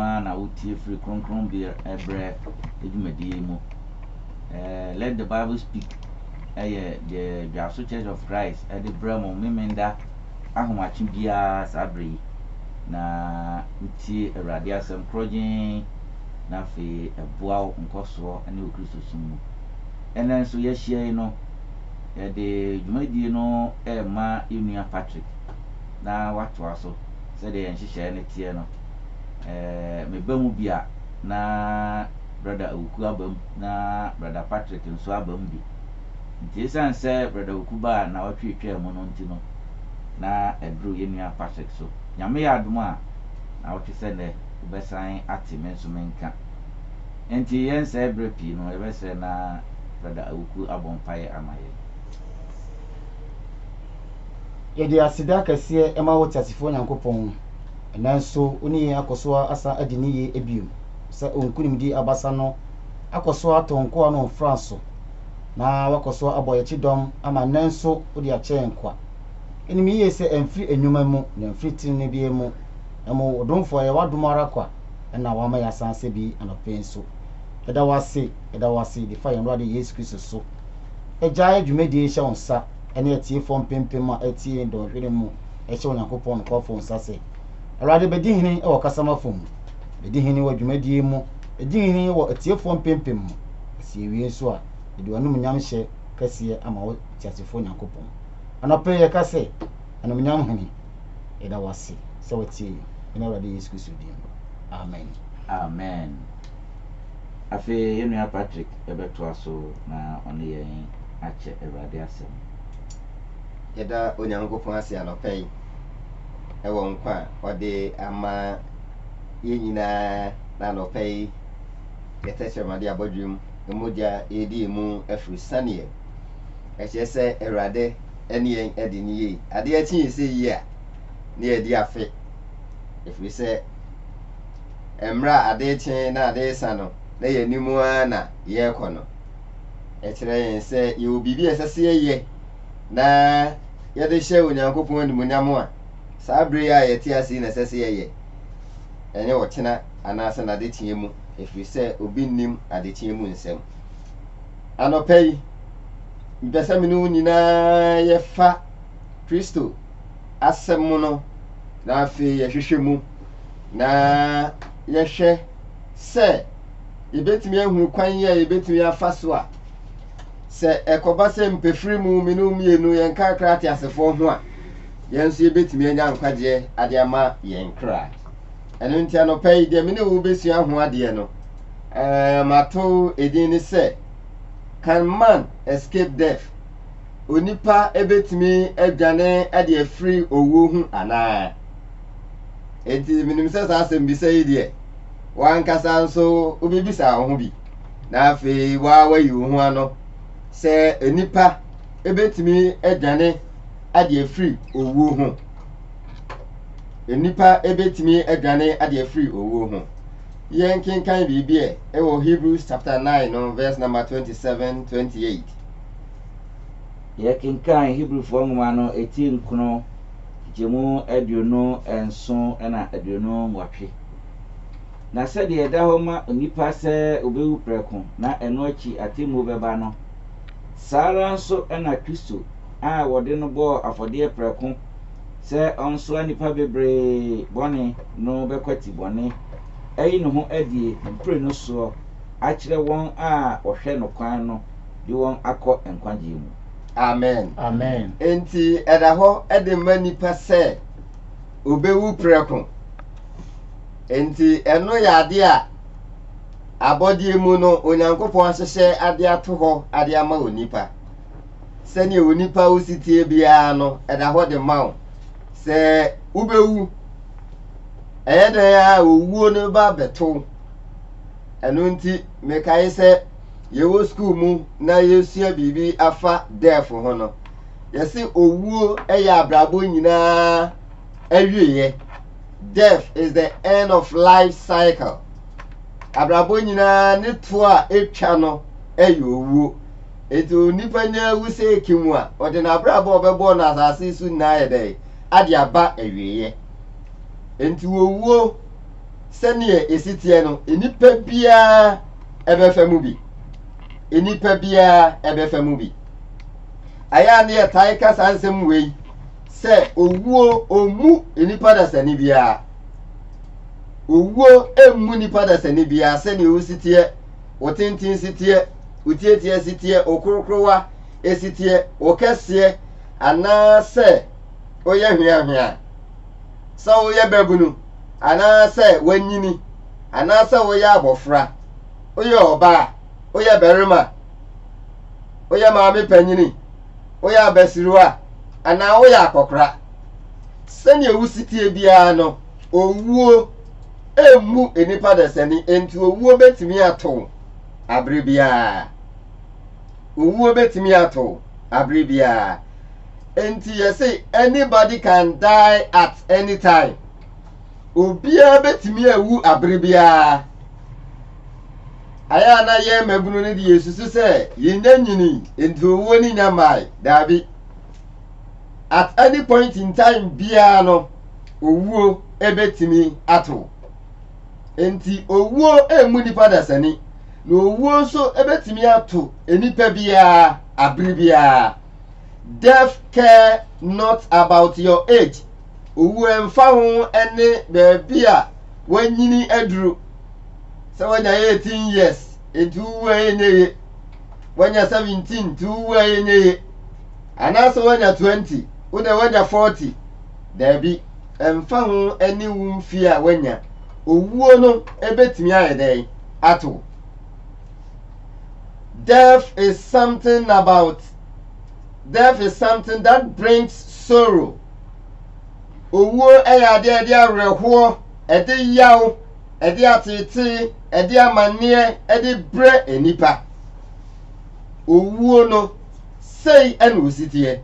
ara na wotie firi kronkronbea brɛ dwumadie yi mu. Let the Bible Speak yɛ deɛ Dwaso Church of Christ de brɛ mo Memenda ahomakye biara saa berɛ yi, na wotie Awurade asɛm korɔgyenn na afei ɛboa wo nkɔsoɔ ne wo Kristosom mu. Ɛnnɛ nso yɛahyia yi no, yɛde dwumadie no rema yɛn nua Patrick na watoa so sɛdeɛ yɛn nhyehyɛeɛ no teɛ no. eh, meba mu bi a, na Brɔda Awuku aba mu, na Brɔda Patrick nso aba mu bi. Nti esiane sɛ Brɔda Awuku baa nnawɔtwe etwaa mu no nti no, na aduru yɛn nua Patrick so. Nyame yɛ adom a, nnawɔtwe sɛ nnɛ, wobɛsan ate me nso me nka. Enti yɛnsɛe berɛ pii no, yɛbɛsrɛ na Brɔda Awuku abɔ mpaeɛ ama yɛn. Yɛde aseda kɛseɛ ma wo Teasefoɔ Nyankopɔn, nanso wo ne yɛn akɔ so asan adi no yie bio, sɛ wo nkonimdie abasa no akɔ so atɔ nkoa no mfra so, na woakɔ so abɔ yɛn kyedɔm ama nnɛ nso wode akyɛ yɛn kwa. Yɛnim yie sɛ ɛmfiri nnwuma mu, na ɛmfiri tenenee biara mu, na mmom wo domfoɔ ɛyɛ w'adom ara kwa na wama yɛasan asɛ bi anɔpa yi nso. Yɛda wo ase, yɛda wo ase de fa yɛn Awurade Yesu Kristo so agyae dwumadie yi hyɛ wo nsa, ne atiefoɔ mpempem a atie dɔnhwere mu hyɛ Onyankopɔn nokwafoɔ nsa sɛ, Awurade bɛdi hene wɔ kasamafo mu, bɛdi hene wɔ dwumadie mu, bɛdi hene wɔ atiefoɔ mpempem mu, na sɛ yɛwie nso a, yɛde w'anumunyam hyɛ kɛseɛ ama wo teasefoɔ Nyankopɔn. Anɔpa yi yɛka sɛ, Anuonyam Hene, yɛda wo ase sɛ watie yɛn, ɛne Awurade Yesu Kristo din mu. Amen. Amen. Afei yɛn nua Patrick bɛtoa so na ɔne yɛn akyɛ Awurade Asɛm. Yɛda Onyankopɔn ase anɔpa yi wɔ nkwa a ɔde ama yɛn nyinaa, na anɔpa yi yɛ tɛkyerɛmade abɔdwem mogya redi yɛn mu afiri saneɛ. Ɛkyerɛ sɛ Awurade ne yɛn adi no yie. Adeɛ kye yɛn sɛ yie a, na yɛadi afe, ɛfiri sɛ. mmerɛ a ade rekye na ade resa no, na yɛn anim ara na yɛrekɔ no, ɛkyerɛ yɛn sɛ yɛwɔ biribi a ɛsɛ sɛ yɛyɛ na yɛde hyɛ Onyankopɔn animuonyam a saa berɛ yi a yɛte ase yi na ɛsɛ sɛ yɛyɛ, ɛnyɛ ɔkyena anaasɛ n'adekyeɛ mu, ɛfiri sɛ obi nnim adekyeɛ mu nsɛm. Anɔpa yi, mepɛ sɛ me ne wo nyinaa yɛfa Kristo asɛm no na afei yɛhwehwɛ mu na yɛhwɛ sɛ yɛbɛtumi ahunu kwan yi a yɛbɛtumi afa so a, sɛ ɛkɔba sɛ mpɛfiri mu mene wo mmienu yɛnkakra ate asefoɔ ho a, yɛn nso yɛbɛtumi anya nkwagyeɛ ade ama yɛn kra. Ɛno nti anɔpa yi deɛ mene wo bɛsua ho adeɛ no, eh, mato edin ne sɛ Can Man Escape Death? Onipa ɛbɛtumi adwane de afiri owuo ho anaa? Enti menim sɛ saa asɛmbisa yi deɛ, w'ankasa nso wobebisaa wo ho bi, na afei woa woayi wo ho ano sɛ nnipa ebetumi adwane ade afiri owuo ho. Nnipa ebetumi adwane ade afiri owuo ho. Yɛnkenkan biribi ɛ, ɛwɔ Hebrews chapter 9 no verse number 27, 28. Yɛkenkan Hebrifoɔ nwoma no ti nkono nkyɛmu aduonu nson na aduonu nwɔtwe. Na sɛdeɛ ɛda hɔ ma onipa sɛ ɔbɛwu prɛko na ɛno akyi atemmuo bɛba no, saa ara nso na Kristo a wɔde no bɔɔ afɔdeɛ prɛko sɛ ɔnsoa nnipa bebree bɔne no bɛkwati bɔne, ayi ne ho adie mprenu soɔ akyerɛ wɔn a wɔhwɛ no kwan no. de wɔn akɔ nkwagyeɛ mu. Amen. Amen. Enti ɛda hɔ de ma nipa sɛ obewu prɛko. Enti ɛno yɛ adeɛ a abɔdeɛ mu no Onyankopɔn ahyehyɛ ade ato hɔ ade ama onipa. Sɛdeɛ onipa wo si teɛ biara no, ɛda hɔ de ma wo sɛ wobɛwu. Ɛyɛ dɛn a owuo no ba bɛto. Ɛno nti mekae sɛ yɛwɔ skuul mu na yerusua biribi afa death ho no, yɛse owuo yɛ abrabɔ nyinaa awieɛ. Death is the end of life cycle. Abrabɔ nyinaa ne toɔ a etwa no yɛ owuo. Enti onipa nya awu sɛ eki mu a, ɔde n'abrabɔ a ɔbɛbɔɔ no asase so nyinaa ayɛ dɛn? Ade aba awieɛ. Enti owuo sɛdeɛ ɛsi teɛ no nnipa biara ɛbɛfa mu bi nnipa biara ɛbɛfa mu bi ayɛ a ne yɛtae ka saa nsɛm wei sɛ owuo ɔmmu nnipa dasani biara owuo ɛmmu nnipa dasani biara sɛdeɛ wosi teɛ wo tenten si teɛ wo tieteɛ si teɛ wo korokorowa ɛsi teɛ wo kɛseɛ anaasɛ woyɛ hweahwea Sɛ woyɛ babunu anaasɛ woanyini anaasɛ woyɛ abɔfra, woyɛ ɔbaa, woyɛ barima, woyɛ maame panyini, woyɛ abasiriwa anaa woyɛ akɔkora, sɛnea wo si teɛ biara no, owuo mmu nnipa dasani, enti owuo bɛtumi ato wo abere biara. Owuo bɛtumi ato wo abere biara. Enti yɛse anybody can die at any time. Obiara bɛtumi awu abere biara. Ayɛ a na yɛn mmabunu no de yɛsusu sɛ yɛnya nyini enti owuo no nya mmae. Daabi. At any point in time biara no owuo ɛbɛtumi ato wo. Enti owuo ɛmmu nnipa dasani. Na owuo nso ɛbɛtumi ato nnipa biara abere biara. Death care not about your age, owu ɛmfa ho ɛne baabi a wanyini aduru. Sɛ wanya 18 years, enti wuwu a ɛnyɛ ye. Wanya 17, nti wuwu a ɛnyɛ ye. Anaasɛ wanya 20, wo dɛ wanya 40. Daabi, ɛmfa ho ɛne wo mfie a wanya. Owuo no ɛbɛtumi ayɛ dɛn ato wo? Death is something about death is something that brings sorrow. Owuo yɛ adeɛ ɛde awerɛhoɔ, ɛde yaw, ɛde atetee, ɛde amanneɛ, ɛde brɛ nnipa. Owuo no, sei ɛna ositeɛ.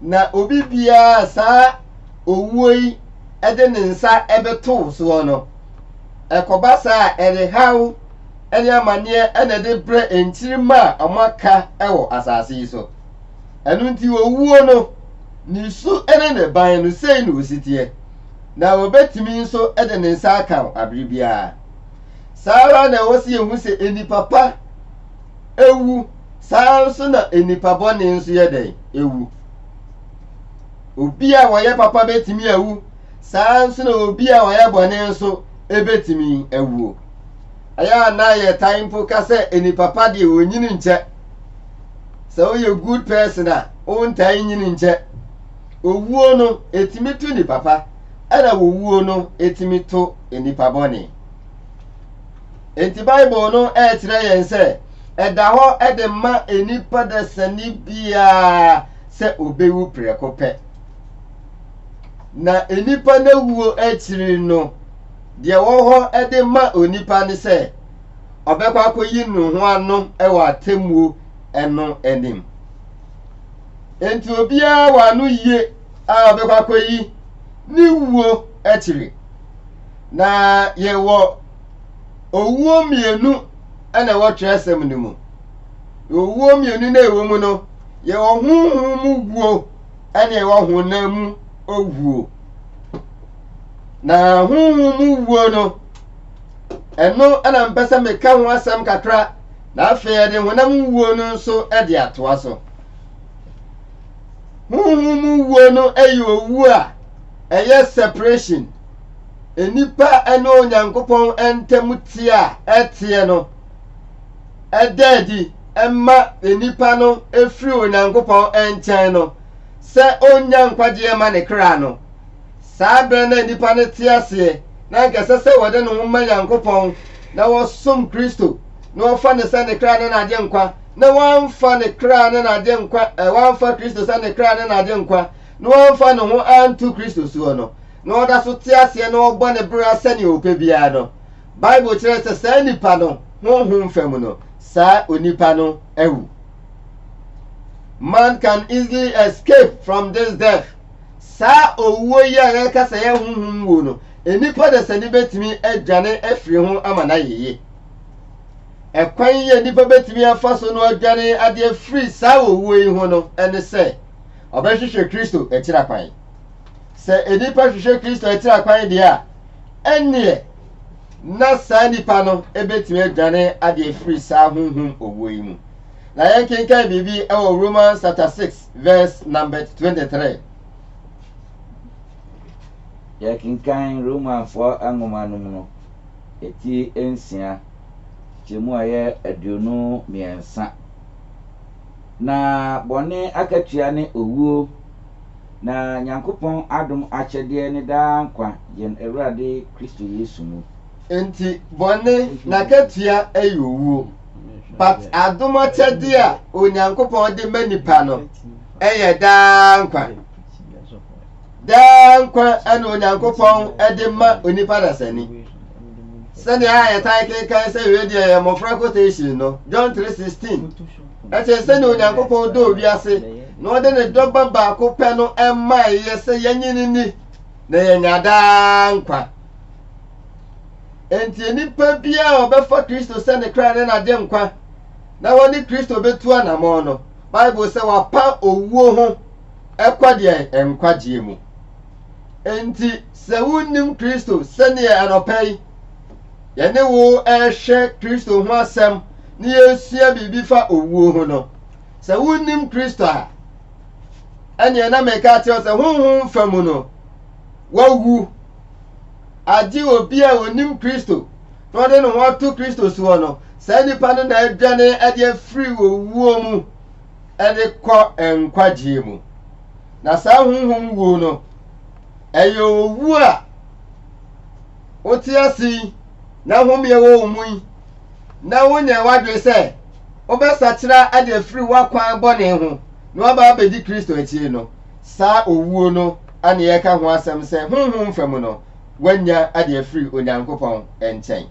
Na obi biara saa owuo yi ɛde ne nsa ɛbɛtoo soɔ no, ɛkɔba saa ɛde haw ne amanneɛ na ɛde brɛ nkyirimma a wɔaka wɔ asase yi so. Ɛno nti, owuo no, ne su ne ne ban no, sei na wɔsi teɛ, na wɔbɛtumi nso de ne nsa aka wo abere biara. Saa ara na ɛwɔ sɛ yɛhu sɛ nnipa pa ewu, saa ara nso na nnipa bɔne nso yɛ dɛn ewu. Obi a ɔyɛ papa bɛtumi awu, saa ara nso na obi a ɔyɛ bɔne nso bɛtumi awuo. Ɛyɛ a na yɛtae mpo ka sɛ nnipa pa deɛ wɔnyini nkyɛ. Sɛ woyɛ good person a, wontae nyini nkyɛ. Owuo no, ɛtumi to nnipa pa, ɛna wɔwuo no, ɛtumi to nnipa bɔne. Enti Bible no ɛrekyerɛ yɛn sɛ ɛda hɔ de ma nnipa dasani biara sɛ ɔbɛwu prɛko pɛ. Na nnipa no wuo akyiri no, Deɛ ɛwɔ hɔ de ma onipa ne sɛ ɔbɛkɔ akɔyi ne ho ano wɔ atemmuo no anim. Enti obiara wɔ ano yie a ɔbɛkɔ akɔyi ne wuo akyiri. Na yɛwɔ owuo mmienu na ɛwɔ twerɛsɛm no mu. Owuo mmienu na ɛwɔ mu no, yɛwɔ honhom mu wuo ɛne ɛwɔ honam mu owuo. na honhom mu wuo no ɛno na mpɛ sɛ meka ho asɛm kakra na afei ɛde honam wuo no nso de atoa so honhom mu wuo no ɛyɛ owu a ɛyɛ separation nnipa ne onyankopɔn ntam teɛ a ɛteɛ no ɛda adi ɛma nnipa no ɛfiri onyankopɔn nkyɛn no sɛ ɔnnya nkwagyeɛ mma ne kra no, saa berɛ no na nnipa no te aseɛ na anka ɛsɛ sɛ wɔde ne ho ma Nyankopɔn na wɔsom Kristo na wɔfa no sɛ ne kra ne n'agyenkwa na wɔamfa ne kra ne n'agyenkwa eh, wɔamfa Kristo sɛ ne kra ne n'agyenkwa na wɔamfa ne ho anto Kristo soɔ no na ɔda so te aseɛ na ɔbɔ ne bra sɛnea ɔpɛ biara no Bible kyerɛ sɛ saa nipa no honhom fam no saa onipa no awu. Man can easily escape from this death. Saa owuo yi a yɛka sɛ yɛ honhom wuo no, nnipa dasani bɛtumi adwane afiri ho ama no ayɛ yie. Ɛkwan yi a nnipa bɛtumi afa so no adwane ade afiri saa owuo yi ho no ne sɛ ɔbɛhwehwɛ Kristo akyira kwan. Sɛ nnipa hwehwɛ Kristo akyira kwan deɛ a, ɛnneɛ na saa nipa no bɛtumi adwane ade afiri saa honhom owuo yi mu. Na yɛnkenkan biribi wɔ Romans chapter 6 verse number 23. Yɛkenkan Romanfoɔ nwoma no mu no, ɛti nsia kyɛmu a ɛyɛ aduonu mmiɛnsa. Na bɔne akatua ne owuo. Na Nyankopɔn adom akyɛdeɛ ne daa nkwa yɛn Awurade Kristo Yesu mu. Enti bɔne n'akatua ɛyɛ owuo, but adom akyɛdeɛ a Onyankopɔn de ma nipa no ɛyɛ daa nkwa. Daa nkwa na Onyankopɔn de ma onipa dasani. Sɛdeɛ a yɛtae kenkan sɛ wei deɛ yɛ mmɔfra quotation no, John 3:16. Ɛkyerɛ sɛnea Onyankopɔn dɔɔ wiase na ɔde ne dɔ ba baako pɛ no maeɛ sɛ yɛnye no nni na yɛanya daa nkwa. Enti nnipa biara a ɔbɛfa Kristo sɛ ne kra ne n'agyenkwa na wɔne Kristo bɛtu anammɔn no, Bible sɛ wapa owuo ho kɔ deɛ nkwagyeɛ mu. Enti sɛ wonnim Kristo sɛdeɛ anɔpa yi yɛne wo rehwɛ Kristo ho asɛm na yɛresua biribi fa owuo ho no, sɛ wonnim Kristo a, ɛneɛ na meka akyerɛ wo sɛ honhom fa mu no, wawu. Agye obi a onnim Kristo na ɔde ne ho ato Kristo soɔ no, saa nipa no na adwane ade afiri owuo mu de kɔ nkwagyeɛ mu. Na saa honhom wuo no, ɛyɛ owuo a wote ase yi na home a ɛwɔ wo mu yi na wonyɛ w'adwene sɛ wobɛsakyera ade afiri w'akwan bɔne ho na waba abɛdi kristo akyire no saa owuo no ane yɛka ho asɛm sɛ honhom fa mu no woanya ade afiri onyankopɔn nkyɛn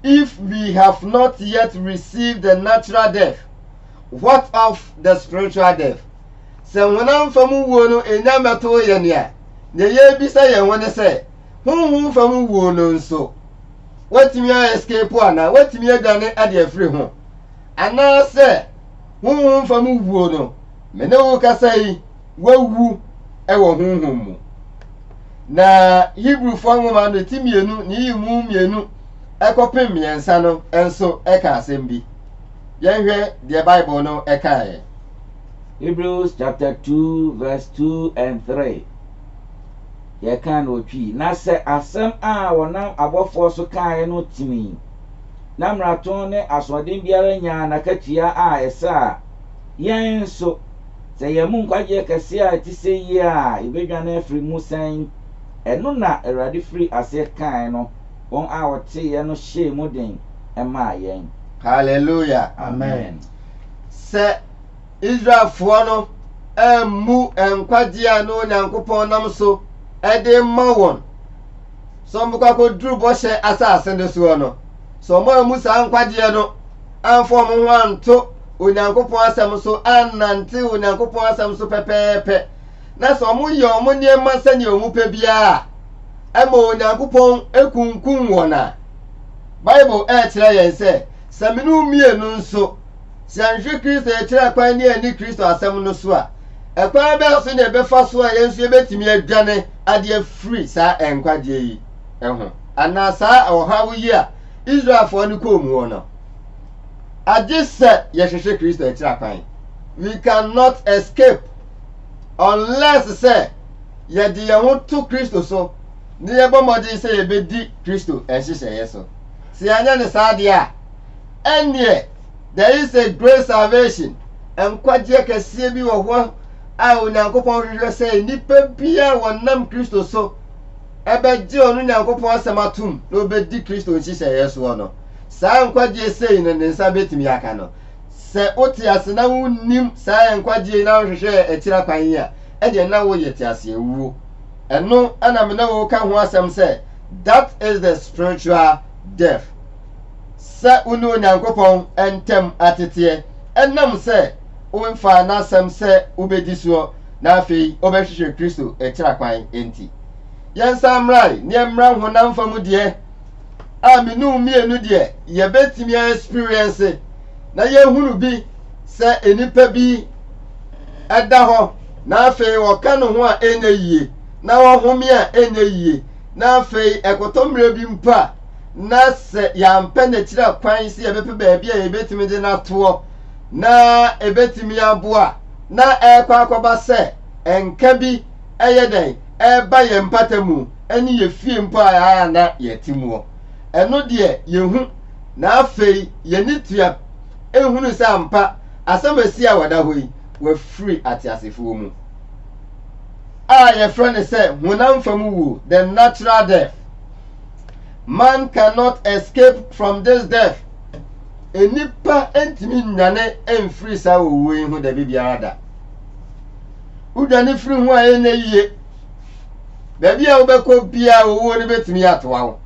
if we have not yet received the natural death what of the spiritual death Sɛ honam fam wuo no nnya mmɛtoo yɛn a, nea yɛrebisa yɛn ho ne sɛ, honhom fam wuo no nso, woatumi a escape anaa woatumi adwane ade afiri ho? Anaasɛ honhom fam wuo no, me ne wo kasa yi, woawu wɔ honhom mu? Na Hebrifoɔ nwoma no ti mmienu ne yi mu mmienu kɔpem mmiɛnsa no nso ka asɛm bi. Yɛnhwɛ deɛ Bible no kaeɛ. Hebrews chapter two verse two and three, yɛkan no wɔ Twi, Na sɛ asɛm a wɔnam abɔfoɔ so kaeɛ no tini, na mmarato ne asoɔden biara nyaa n'akatua a ɛsɛ a, yɛn nso, sɛ yɛn mu nkwagyeɛ kɛseɛ a ɛte sɛ yei a yɛbɛdwane afiri mu sɛn? Ɛno na Awurade firii aseɛ kaeɛ no. wɔn a wɔteeɛ no hyɛɛ mu den maa yɛn. Hallelujah! Amen! Sɛ Israelfoɔ no ammu nkwagyeɛ a na Onyankopɔn nam so de rema wɔn sɛ wɔbɛkɔ akɔduru bɔhyɛ asase no soɔ no, sɛ wɔn ammu saa nkwagyeɛ no amfa wɔn ho anto Onyankopɔn asɛm so, annante Onyankopɔn asɛm so pɛpɛɛpɛ, na sɛ wɔyɛ wɔn nneɛma sɛnea wɔpɛ biara a, ɛma Onyankopɔn kunkum wɔn a, Bible ɛrekyerɛ yɛn sɛ sɛ mene wo mmienu nso, sɛ yɛnhwɛ Kristo yɛkyerɛ kwan ne ani Kristo asɛm no so a, ɛkwan bɛn so na ɛbɛfa so a yɛn nso yɛbɛtumi adwane ade afiri saa nkwagyeɛ yi ho anaa saa ɔhaw yi a Israelfoɔ no kɔɔ mu no? Agye sɛ yɛhwehwɛ Kristo akyira kwan. We cannot escape unless sɛ yɛde yɛn ho to Kristo so na yɛbɔ mmɔden sɛ yɛbɛdi Kristo nhyehyɛeɛ so. Sɛ yɛanyɛ ne saa deɛ a, ɛnneɛ there is a great salvation, nkwagyeɛ kɛseɛ bi wɔ hɔ a Onyankopɔn hwehwɛ sɛ nnipa bi a wɔnam Kristo so ɛbɛgye ɔno Nyankopɔn asɛm atom na ɔbɛdi Kristo nhyehyɛeɛ soɔ no. Saa nkwagyeɛ sei no ne nsa bɛtumi aka no. Sɛ wote ase na wunnim saa nkwagye yi na wohwehwɛ akyira kwan yi a, ɛnneɛ na woyɛ teaseawuo. Ɛno na me ne wo reka ho asɛm sɛ, That is the spiritual death. Sɛ wo ne Onyankopɔn ntam ateteɛ ɛnam sɛ womfaa N'asɛm sɛ wobɛdi soɔ na afei wobɛhwehwɛ Kristo akyira kwan nti. Yɛnsan mmra nneɛmmra honam fam deɛ. a me ne wo mmienu deɛ yɛbɛtumi a experience na yɛhunu bi sɛ nnipa bi ɛda hɔ na afei ɔka ne ho a ɛnyɛ yie na ɔhome a ɛnyɛ yie na afei ɛkɔtɔ mmerɛ bi mpo a na sɛ yɛampɛ n'akyira kwan sɛ yɛbɛpɛ baabi a yɛbɛtumi de n'atoɔ na ɛbɛtumi aboa na ɛrekɔ akɔba sɛ nka bi ɛyɛ dɛn ɛreba yɛn mpata mu ne yɛn fie mpo a na yɛte muɔ. Ɛno deɛ yɛhu, na afei yɛn ani tua hunu sɛ ampa asɛm a ɛsi a wɔda hɔ yi, wɔafiri ateasefoɔ mu. A yɛfrɛ no sɛ honam fam wuo, the natural death. Man cannot escape from this death. Nnipa ntumi nnwane mfiri saa owuo yi ho da bi biara da. Wodwane firi ho a ɛnyɛ yie. Baabi a wobɛkɔ biara owuo no bɛtumi atoa wo.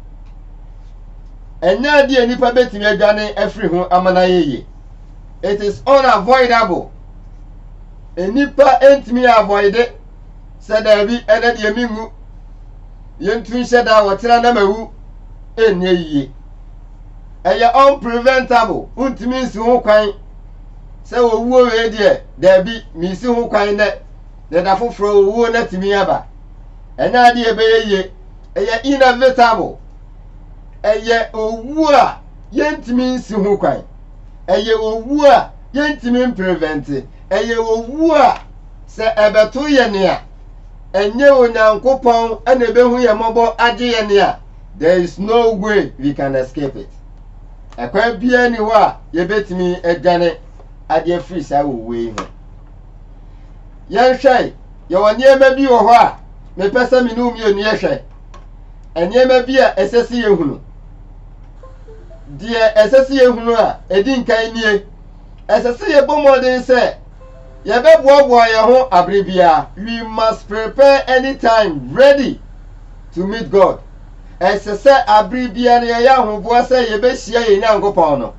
Ɛnyɛ adeɛ a nnipa bɛtumi adwane afiri ho ama no ayɛ yie. It is unavoidable. Nnipa ntumi avoide sɛ daabi ɛnɛ deɛ menwu. Yɛntu nhyɛ da a wɔtena na mawu ɛnyɛ yie. Ɛyɛ unpreventable. Wontumi nsi ho kwan. sɛ owuo wei deɛ, daabi, mesi ho kwan nnɛ, na da foforɔ owuo no atumi aba. Ɛnyɛ adeɛ a ɛbɛyɛ yie. Ɛyɛ inevitable. Ɛyɛ owuo a yɛntumi nsi ho kwan. Ɛyɛ owuo a yɛntumi mprevɛnte. Ɛyɛ owuo a sɛ ɛbɛto yɛn a, ɛnyɛ Onyankopɔn na ɛbɛhu yɛn mmɔbɔ agye yɛn a, there is no way we can escape it. Ɛkwan biara ni hɔ a yɛbɛtumi adwane adeɛ afiri saa owuo yi ho. Yɛnhwɛe, yɛwɔ nneɛma bi wɔ hɔ a mepɛ sɛ me ne wo mmienu yɛhwɛ. Nneɛma bi a ɛsɛ sɛ yɛhunu. Deɛ ɛsɛ sɛ yɛhunu a, ɛdi nkan nie. Ɛsɛ sɛ yɛbɔ mmɔden sɛ yɛbɛboaboa yɛn ho abere biara. We must prepare anytime ready. to meet God. Ɛsɛ sɛ abere biara no yɛyɛ ahoboa sɛ yɛbɛhyia yɛn Nyankopɔn no.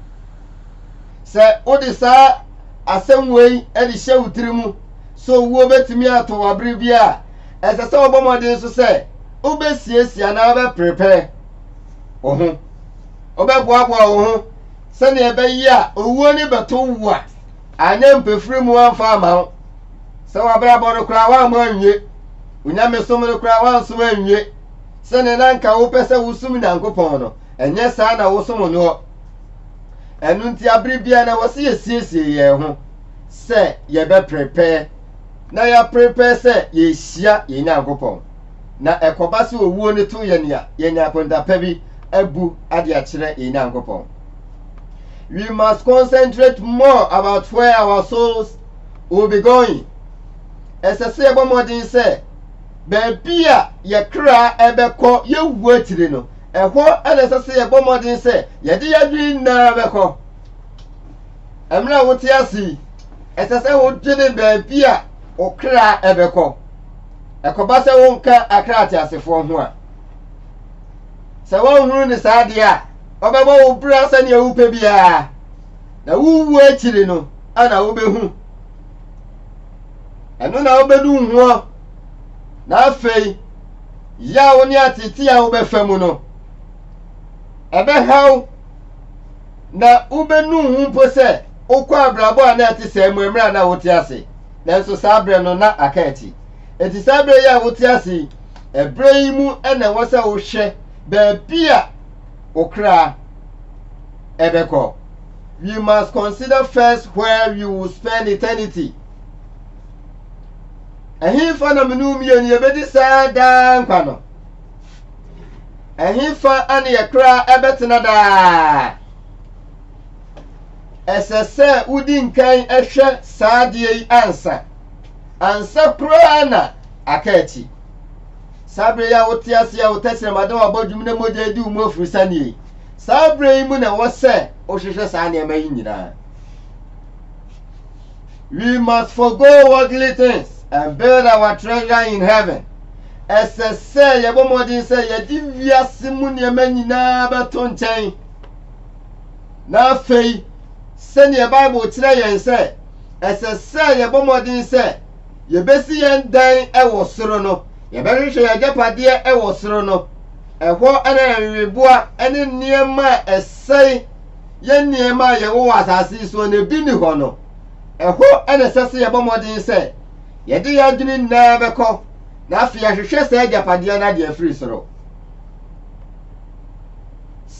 Sɛ wode saa asɛm wei de hyɛ wo tiri mu sɛ owuo bɛtumi ato wo abere bi a, ɛsɛ sɛ wobɔ mmɔden so sɛ wobɛsiesie anaa wobɛprepare wo ho. Wobɛboaboa wo ho sɛdeɛ ɛbɛyɛ a owuo no bɛto wo a, Anyɛ mpefiri mu amfa amma wo. Sɛ w'abrabɔ no koraa woammɔ anwie. Wo nyamesom no koraa woansom anwie. Sɛdeɛ na anka wopɛ sɛ wosom Nyankopɔn no, ɛnyɛ saa na wosom noɔ. Ɛno nti abere biara na ɛwɔ sɛ yɛsiesie yɛn ho sɛ yɛbɛprepare na yɛaprepare sɛ yɛrehyia yɛn Nyankopɔn. na ɛkɔba sɛ owuo no to yɛn a, yɛnya akonta pa bi abu ade akyerɛ yɛn Nyankopɔn. We must concentrate more about where our souls will be going. Ɛsɛ sɛ yɛbɔ mmɔden sɛ baabi a yɛ kra ɛbɛkɔ yɛwu akyiri no, ɛhɔ na ɛsɛ sɛ yɛbɔ mmɔden sɛ yɛde yɛdwene nyinaa bɛkɔ. Mmerɛ a wote ase yi, ɛsɛ sɛ wodwene baabi a wo kra ɛbɛkɔ. Ɛkɔba sɛ wonka akra ateasefoɔ ho a, sɛ wɔnhunu ne saa adeɛ a, wɔbɛbɔ wo bra sɛdeɛ wopɛ biara, na wowu akyiri no ana wobɛhu. Ɛno na wobɛnu hoɔ, na afei yaw ne atete a wobɛfa mu no, ɛbɛhaw na wobɛnu ho mpo sɛ wokɔ abrabɔ a na ɛte sɛɛ mu mmerɛ a na wote ase. nanso saa berɛ no na aka akyi. Enti saa berɛ yi a wote ase yi, ɛberɛ yi mu na ɛwɔ sɛ wohwɛ baabi a wo kra ɛbɛkɔ. We must consider first where we will spend eternity. Ɛhefa na mene mmienu yɛbɛdi saa daa nkwa no? Ɛhefa ne yɛ kra ɛbɛtena daa? Ɛsɛ sɛ wodi nkan hwɛ saa adeɛ yi ansa. Ansa koraa na aka akyi. Saa berɛ yi a wote ase a wo tɛsrɛm ada wabɔ dwom na mogya adi wo mu afurisa nie. Saa berɛ yi mu na ɛwɔ sɛ wohwehwɛ saa nneɛma yi nyinaa. We must forgo worldly things and build our treasure in heaven. Ɛsɛ sɛ yɛbɔ mmɔden sɛ yɛde wiase mu nneɛma nyinaa bɛto nkyɛn. Na afei, sɛnea Bible kyerɛ yɛn sɛ ɛsɛ sɛ yɛbɔ mmɔden sɛ yɛbɛsi yɛn dan wɔ soro no, yɛbɛhwehwɛ yɛn agyapadeɛ wɔ soro no. Ɛhɔ na nweweboa ne nneɛma a ɛsɛe yɛ nneɛma a yɛwɔ wɔ asase yi soɔ no bi nni hɔ no. Ɛhɔ na ɛsɛ sɛ yɛbɔ mmɔden sɛ yɛde yɛn adwene nyinaa bɛkɔ na afei ahwehwɛ saa agyapadeɛ no adeɛ firi soro.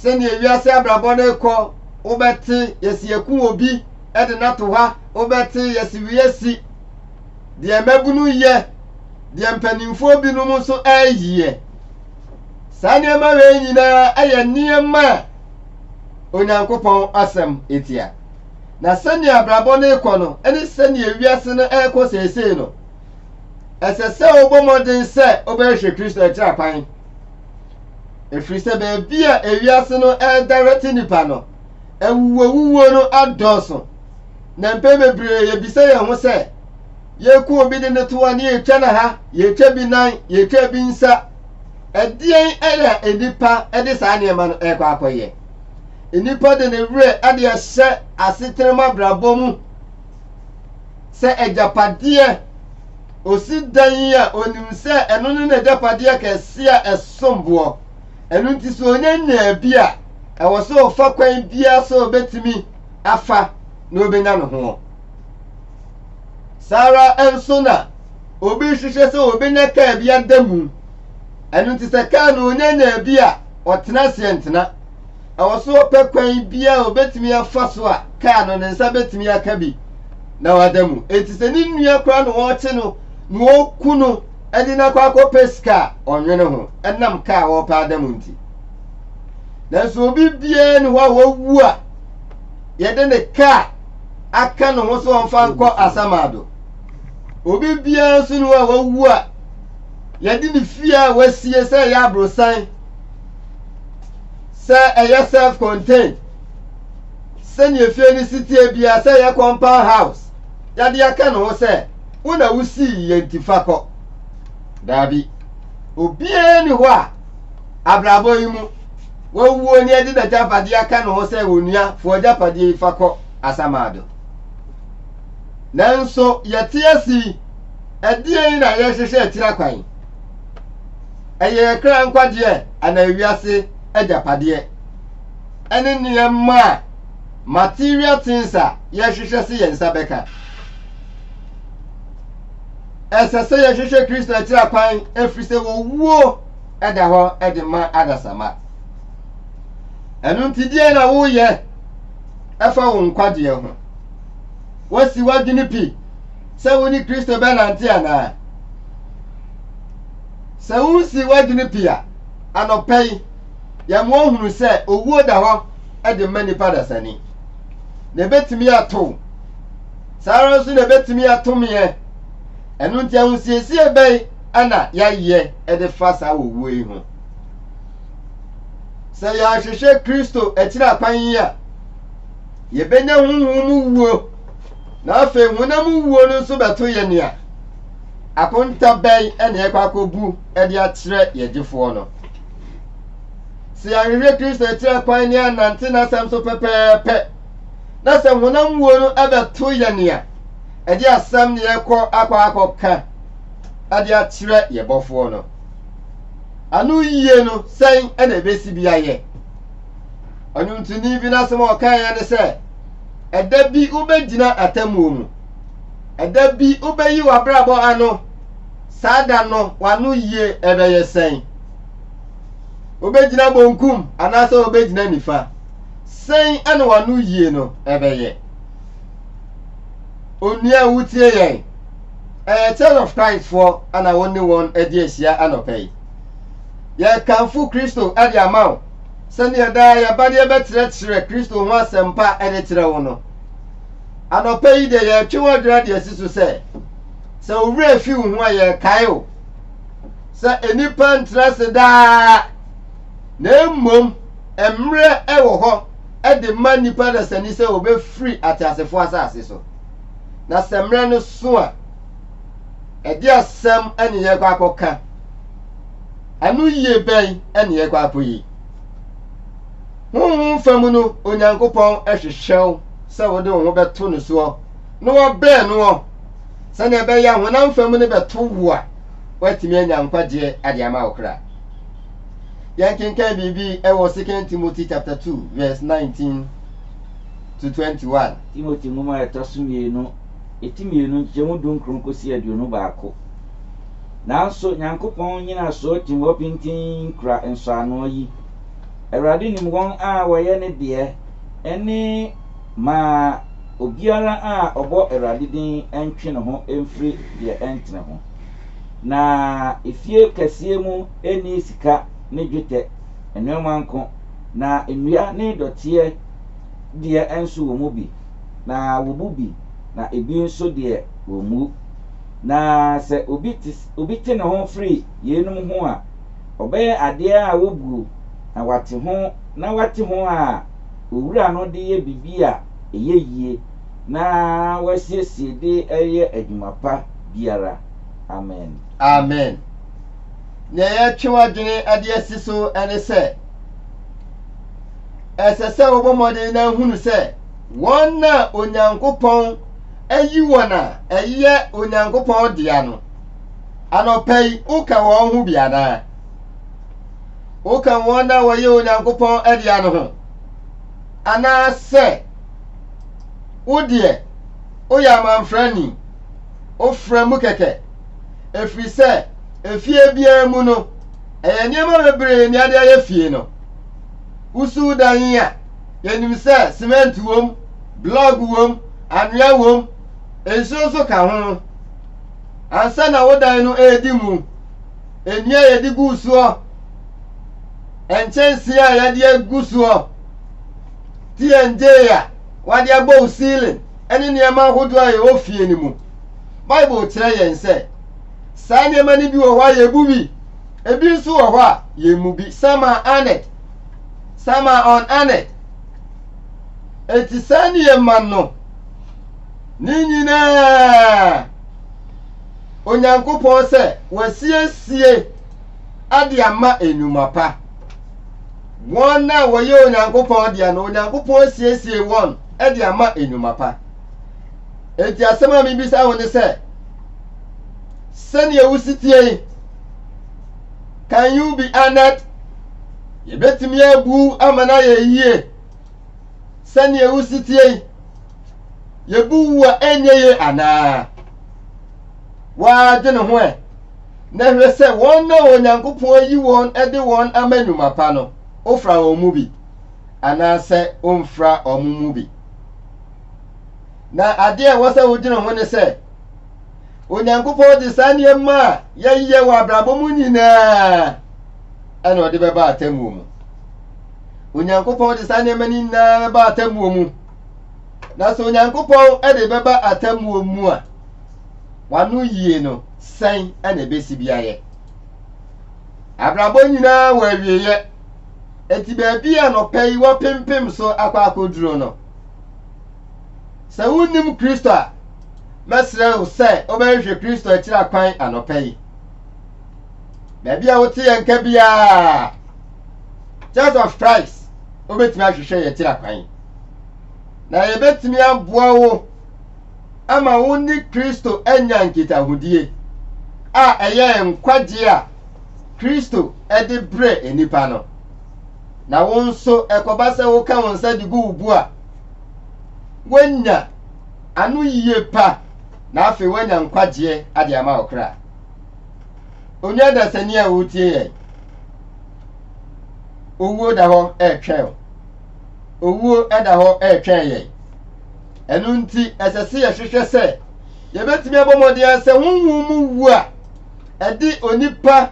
sɛdeɛ wiase abrabɔ no rekɔ, wobɛte yɛsi yɛku obi de no ato ha, wobɛte yɛsi wiesi deɛ mmabunu yɛ, deɛ mpanimfoɔ binom nso ɛreyɛ. Saa nneɛma wei nyinaa yɛ nneɛma a Onyankopɔn asɛm etia. Na sɛnea abrabɔ no rekɔ no ne sɛnea wiase no rekɔ seesei no, ɛsɛ sɛ wobɔ mmɔden sɛ wobɛhwehwɛ Kristo akyira kwan. Ɛfiri sɛ baabi a ewiase no ɛredɛrɛte nnipa no, awuwowuwuo no adɔɔso. Na mpɛn bebree yɛbisa yɛn ho sɛ, yɛku obi de ne to a ne yɛtwa no ha, yɛtwa bi nan, yɛtwa bi nsa. Ɛdeɛn ɛyɛ a nnipa de saa nneɛma no ɛrekɔ akɔyɛ? Nnipa de ne werɛ de ahyɛ asetena mu abrabɔ mu. sɛ agyapadeɛ. Ɔsi dan yi a, ɔnim sɛ ɛno ne n'agyapadeɛ kɛse a ɛsom boɔ. Ɛno nti sɛ ɔnya nyaa bi a, ɛwɔ sɛ ɔfa kwan biara sɛ ɔbɛtumi afa na ɔbɛnya ne ho. Saa ara nso na obi hwehwɛ sɛ ɔbɛnya kaa bi ada mu. Ɛno nti sɛ kaa no ɔnya nyaa bi a, ɔtena aseɛ ntena. ɛwɔ sɛ ɔpɛ kwan biara a obetumi afa so a kaa no ne nsa betumi aka bi na wada mu. Enti sɛ ne nua koraa na wɔrekye no na wɔku no de no akɔ akɔpɛ sika a, ɔnwene ho ɛnam kaa a wɔrepɛ ada mu nti. Nanso obi biara ne hɔ a wawu a yɛde ne kaa aka ne ho sɛ ɔmfa nkɔ asamado. Obi biara nso ne hɔ a wawu a yɛde ne fie a wasie sɛ ɛyɛ aborosan sɛ ɛyɛ self contained sɛnea efie no si teɛ biara sɛ ɛyɛ compound house yɛde aka ne ho sɛ wo na wosii yɛ nti fa kɔ daabi obiara ni hɔ a abrabɔ yi mu wawuo ne ɛde n'agyapadeɛ aka ne ho sɛ onuafoɔ agyapadeɛ yi fa kɔ asamado nanso yɛte asi ɛdeɛn na yɛhyehyɛ akyira kwan Ɛyɛ yɛn kra nkwagyeɛ anaa ewiase agyapadeɛ? Ɛne nneɛma a material things a yɛhwehwɛ se yɛn nsa bɛka. Ɛsɛ sɛ yɛhwehwɛ Kristo akyira kwan ɛfiri sɛ wɔwuo ɛda hɔ de ma adasamma. Ɛno nti deɛ na woyɛ ɛfa wo nkwagyeɛ ho? Woasi w'adwene pi? sɛ wo ne Kristo bɛnante anaa? Sɛ wusi w'adwene pi a, anɔpa yi, yɛma ohunu sɛ owuo da hɔ de ma nnipa dasani. Na ebetumi atow. Saa ara nso na ebetumi ato meɛ. Ɛno nti ahosiesie bɛn na yɛayɛ de fa saa owuo yi ho? Sɛ yɛanhwehwɛ Kristo akyiri akwan yi a, yebenya honhom mu wuo. na afei honam wuo no nso bɛto yɛ nea akonta bɛn na yɛkɔ akɔbu de akyerɛ yɛ gyefoɔ no. Sɛ yɛahwehwɛ Kristo akyirɛ kwan ne anante n'asɛm so pɛpɛɛpɛ, na sɛ honam wuo no bɛto yɛ nea ɛde asɛm ne yɛkɔ akɔ akɔka de akyerɛ yɛ bɔfoɔ no. Ano yie no sɛn na ɛbɛsi bi ayɛ? Ɔnwomtoni bi n'asɛm a ɔkaeɛ ne sɛ, Ɛda bi wobɛgyina atemmuo mu. Ɛda bi wobɛyi w'abrabɔ ano. Saa da no, w'ano yie ɛbɛyɛ sɛn? Wobɛgyina bonkum anaasɛ wobɛgyina nifa? Sɛn ɛne w'ano yie no ɛbɛyɛ? Onua wotie yɛn. Ɛyɛ Church of Christ foɔ ɛna wo ne wɔn ɛde ahyia anɔpɛ yi. Yɛkamfo Kristo ɛde ama wo. sɛdeɛ daa yɛba deɛ bɛkyerɛkyerɛ Kristo ho asɛmpa ɛde kyerɛ wo no. Anɔpa yi deɛ yɛretwe w'adwena deɛ si so sɛ, sɛ wo werɛ fi wo ho a yɛrekae wo sɛ nnipa ntra ase daa, na mmom mmerɛ ɛwɔ hɔ ɛde ma nnipa dasani sɛ wɔbɛfiri ateasefoɔ asase so. Na sɛ mmerɛ no so a, ɛde asɛm ɛne yɛkɔ akɔka. Ano yie bɛn na yɛrekɔ akɔyi? Honhom fam no, Onyankopɔn hwehwɛ wo sɛ wode wo ho bɛto no soɔ na wɔbɛn noɔ sɛdeɛ ɛbɛyɛ a honam fam no bɛto wo a woatumi anya nkwagyeɛ ade ama wo kra. Yɛnkenkan biribi wɔ 2 Timothy chapter 2 verse 19 to 21. Timothy nwoma a ɛtɔ so mmienu, eti mmienu, nkyekyɛmu dunkron kɔsi aduonu baako. Nanso Nyankopɔn nnyinasoɔ tim hɔ pintinn kura nsɔanoɔ yi, Awurade nim wɔn a wɔyɛ Ne deɛ, ɛne, Ma obiara a ɔbɔ Awurade din ntwe ne ho mfiri deɛ ɛntene ho. Na efie kɛseɛ mu nni sika ne dwetɛ, nnoɔma nko, na nnua ne dɔteɛ deɛ nso wɔn mu bi, na wɔbu bi, na ebi nso deɛ wɔmmu. Na sɛ obi te obi te ne ho firi yeinom ho a, ɔbɛyɛ adeɛ a wɔbuo na wate ho na wate ho a owura no de yɛ biribi a ɛyɛ yie na wasiesie de reyɛ adwuma pa biara. Amen. Amen. Nea yɛretwe w'adwene de asi so ne sɛ, ɛsɛ sɛ wobɔ mmɔden na hunu sɛ wɔn a Onyankopɔn ayi wɔn a ɛyɛ Onyankopɔn dea no. Anɔpa yi, woka wɔn ho bi anaa? Woka wɔn a wɔyɛ Onyankopɔn dea no ho? Anaasɛ wo deɛ woyɛ amanfrani, wofra mu kɛkɛ? Ɛfiri sɛ, efie biara mu no, ɛyɛ nneɛma bebree ne ade ayɛ fie no. Wusuw dan a, Yɛnim sɛ semɛnte wom, blɔg wom, anwea wom, nsuo nso ka ho. Ansa na wo dan no redi mu, nnua a yɛde guu soɔ, nkyɛnsee a yɛde agu soɔ, TNJ a wɔde abɔ wo ceiling ne nneɛma ahodoɔ a ɛwɔ fie no mu. Bible kyerɛ yɛn sɛ saa nneɛma no bi wɔ hɔ a yɛbu bi, ebi nso wɔ hɔ a yɛmmu bi. Sama Arnett. Sama on ane. Enti saa nneɛma no, ne nyinaa Onyankopɔn sɛ wasiesie ade ama nnwuma pa. Wɔn a wɔyɛ Onyankopɔn deɛ no, Onyankopɔn asiesie wɔn de ama nnwuma pa. Enti asɛm a mebisa wo ne sɛ, sɛdeɛ wosi tie yi, Can you be honored? Yɛbɛtumi abu wo ama no ayɛ yie. Sɛnea ɛwo si tie yi, yɛbu wo a ɛnyɛ yie anaa? Wɔadwene ho ɛ na hwɛ sɛ wɔn na Onyankopɔn ayi wɔn de wɔn ama nnwuma pa no, wofra wɔn mu bi anaasɛ womfra wɔn mu bi. Na adeɛ a ɛwɔ sɛ wodwene ho ne sɛ, onyankopɔn de saa nneɛma a yɛyɛ wɔ abrabɔ mu nyinaa ɛna ɔde bɛba atemmuo mu onyankopɔn de saa nneɛma no nyinaa bɛba atemmuo mu na sɛ onyankopɔn de bɛba atemmuo mu a wano yie no sɛn ɛna ɛbɛsi bi ayɛ abrabɔ nyinaa wɔ awieeɛ eti baabi a nɔpɛ yi wɔpempem so akɔ akɔduro no Sɛ wunnim Kristo a, mɛsrɛ wo sɛ wobɛhwehwɛ Kristo akyiri akwan anɔpa yi. Baabi a wote yɛn nka biara, Church of Christ wobɛtumi ahwehwɛ yɛn akyiri akwan. Na yɛbɛtumi aboa wo ama wo ne Kristo anya nkitahodie a ɛyɛ nkwagyeɛ a Kristo de brɛ nnipa no. Na wo nso ɛkɔba sɛ woka wo nsa de gu wo bo a, woanya anoyie pa na afei woanya nkwagyeɛ ade ama wo kra. Onua dasani a wotie yɛn, owuo da hɔ ɛretwɛn o. Owuo da hɔ ɛretwɛn yɛn. Ɛno nti ɛsɛ sɛ yɛhwehwɛ sɛ yɛbɛtumi abɔ mmɔden sɛ honhom mu wu a ɛde onipa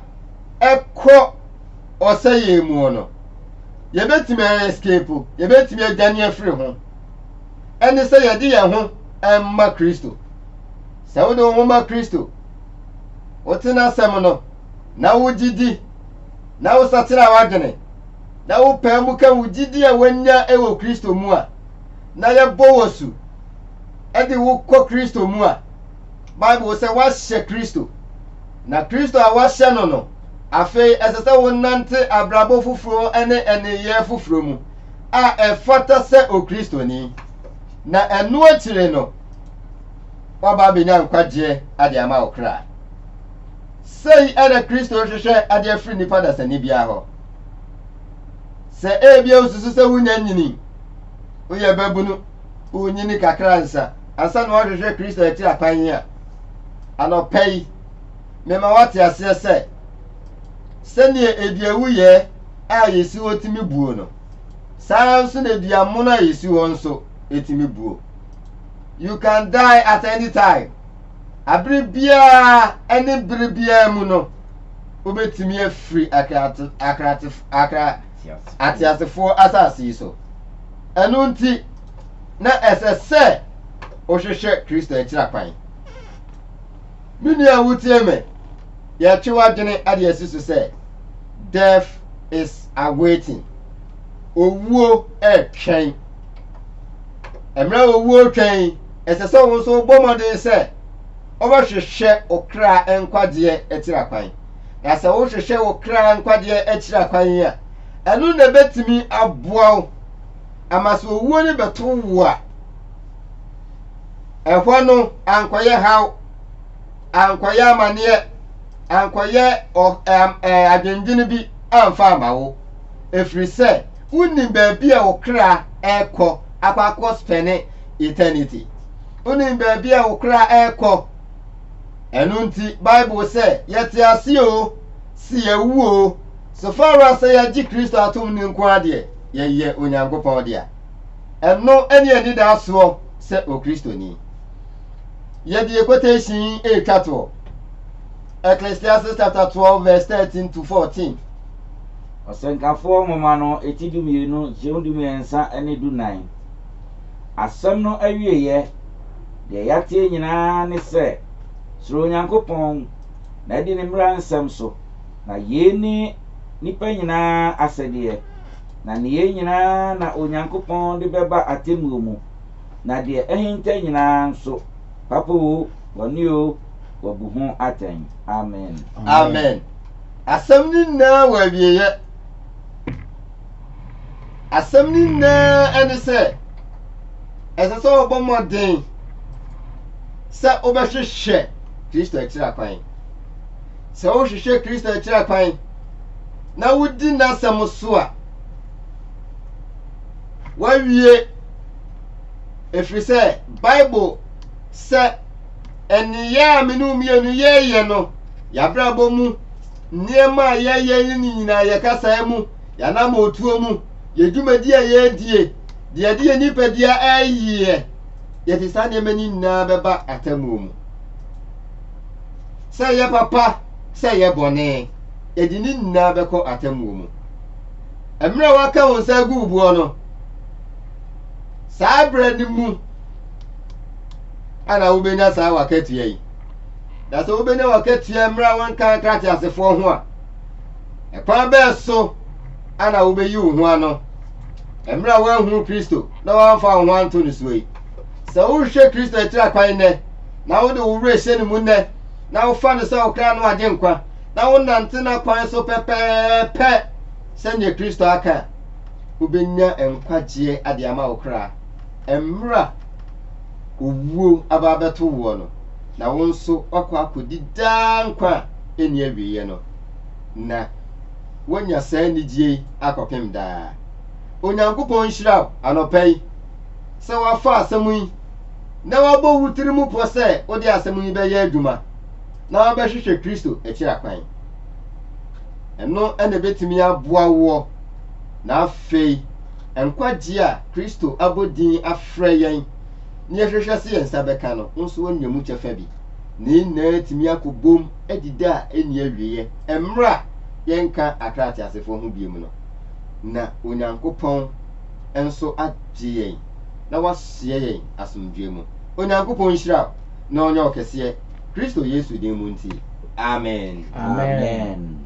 ɛkɔ ɔsɛeɛ mu no, yɛbɛtumi a escape, yɛbɛtumi adwane afiri ho. Ɛne sɛ yɛde yɛn ho ma Kristo. Sɛ wode wo ho ma Kristo, wote n'asɛm no, na wogye di, na wosakyera w'adwene, na wopaa mu ka wo gyidi a woanya wɔ Kristo mu a, na yɛbɔ wɔ su de wo kɔ Kristo mu a, Bible sɛ wɔahyɛ Kristo, na Kristo a wɔahyɛ no no, afei ɛsɛ sɛ wonante abrabɔ foforo ne nneyɛɛ foforo mu a ɛfata sɛ Okristoni. Na ɛno akyire no, wɔba abɛnya nkwagyeɛ ade ama wo kra. Sei na Kristo hwehwɛ ade afiri nnipa dasani biara hɔ. Sɛ ebia wosusu sɛ wonya nyini, woyɛ babunu, wonyini kakra nsa, ansa na wahwehwɛ Kristo akyi akwan yi a, anɔpa yi, mema wate aseɛ sɛ, sɛdeɛ eduawuyɛ a yɛsi hɔ tumi buo no, saa nso na eduamono a yɛsi hɔ nso tumi buo. You can die at any time. Abere biara ne bere biara mu no, wobɛtumi afiri ateasefoɔ asase yi so. Ɛno nti, na ɛsɛ sɛ wohwehwɛ Kristo akyirapwan. Me nua wotie me, yɛtwe w'adwene ade asi so sɛ death is awaiting. Owuo ɛretwɛn. Mmerɛ a owuo retwɛn, ɛsɛ sɛ wo nso wobɔ mmɔden sɛ wobɛhwehwɛ wo kra nkwagyeɛ akyirapwan. Na sɛ wohwehwɛ wo kra nkwagyeɛ akyirapwan a, ɛno na ɛbɛtumi aboa wo ama sɛ owuo no bɛto wo a ɛhɔ no ankɔyɛ haw ankɔyɛ amaneɛ ankɔyɛ adwendwene bi amfa ama wo ɛfiri sɛ wonim baabi a wo kra ɛkɔ akɔ akɔ spɛne eternity wonim baabi a wo kra ɛkɔ ɛno nti bible sɛ yɛte ase o si yɛwuo So fa ara sɛ yɛagye Kristo atom no nko ara deɛ yɛyɛ Onyankopɔn dea? Ɛno ne anidaasoɔ sɛ Okristoni. Yɛde quotation yi retwa toɔ, Ecclesiastes chapter 12 verse 13 to 14. Ɔsɛnkafoɔ nwoma no ti dumienu kyew dumiɛnsa ne dunan. Asɛm no awieeɛ, deɛ yɛateɛ nyinaa ne sɛ, Suro Onyankopɔn, na di ne mmara nsɛm so. Na yei ne nnipa nyina ara asɛdeɛ, na nneyɛɛ nyina ara na Onyankopɔn de bɛba atemmuo mu, na deɛ ahinta nyina ara nso, papa oo, bɔne oo, wabu ho atɛn. Amen. Amen. Asɛm no nyinaa wɔ awieɛ. Asɛm no nyinaa ne sɛ, ɛsɛ sɛ wɔbɔ mmɔden sɛ wobɛhwehwɛ Kristo akyiri akwan. sɛ wohwehwɛ Kristo akyira kwan na wodi n'asɛm so a, wawie ɛfiri sɛ bible sɛ ɛneyɛ a me ne mmienu yɛyɛ no yɛabrabɔ mu nneɛma a yɛyɛ ne nyinaa yɛkasaa mu yɛanam ɔtuo mu yɛdwumadi a yɛredie deɛ ɛde yɛ nipadua ɛyɛ yɛde saa nneɛma no nyinaa bɛba atamuo mu Sɛ ɛyɛ papa, sɛ ɛyɛ bɔne, yɛde ne nyinaa bɛkɔ atemmuo mu. Mmerɛ a woaka wo nsa agu wo boɔ no, saa berɛ no mu ana wobɛnya saa wakatua yi. Na sɛ wobɛnya wakatua mmerɛ a wonka nkra teasefoɔ ho a, ɛkwan bɛɛ so ana wobɛyi wo ho ano mmerɛ a woanhunu Kristo na woamfa wo ho anto no soɔ yi. Sɛ wohwɛ Kristo akyiri akwan nnɛ, na wode wo werɛ hyɛ ne mu nnɛ, na wofa no sɛ wo kra no agye nkwa, na wonante n'akwan so pɛpɛɛpɛ sɛdeɛ Kristo aka a, wobɛnya nkwagyeɛ ade ama wo kra mmerɛ a owuo aba abɛto woɔ no, na wo nso woakɔ akɔdi daa nkwa a ɛnni awieɛ no, na woanya saa anigyeɛ yi akɔpem daa. Onyankopɔn nhyira wo anɔpa yi sɛ woafa asɛm yi na woabɔ wo tiri mu pɔ sɛ wode asɛm yi bɛyɛ adwuma na wabɛhwehwɛ Kristo akyira kwan. Ɛno na ɛbɛtumi aboa woɔ na afei nkwagyeɛ a Kristo abɔ din afrɛ yɛn na yɛhwehwɛ sɛ yɛn nsa bɛka no, wo nso woanya mu kyɛfa bi. Ne nyinaa atumi akɔbom adi da a ɛnni awieɛ mmerɛ a yɛnka akra ateasefoɔ ho biom no, na Onyankopɔn nso agye yɛn. na wɔahyɛ yɛn asomdwoeɛ mu. Onyankopɔn nhyira wo na ɔnyɛ wo kɛseɛ Kristo Yesu din mu nti, amen. Amen.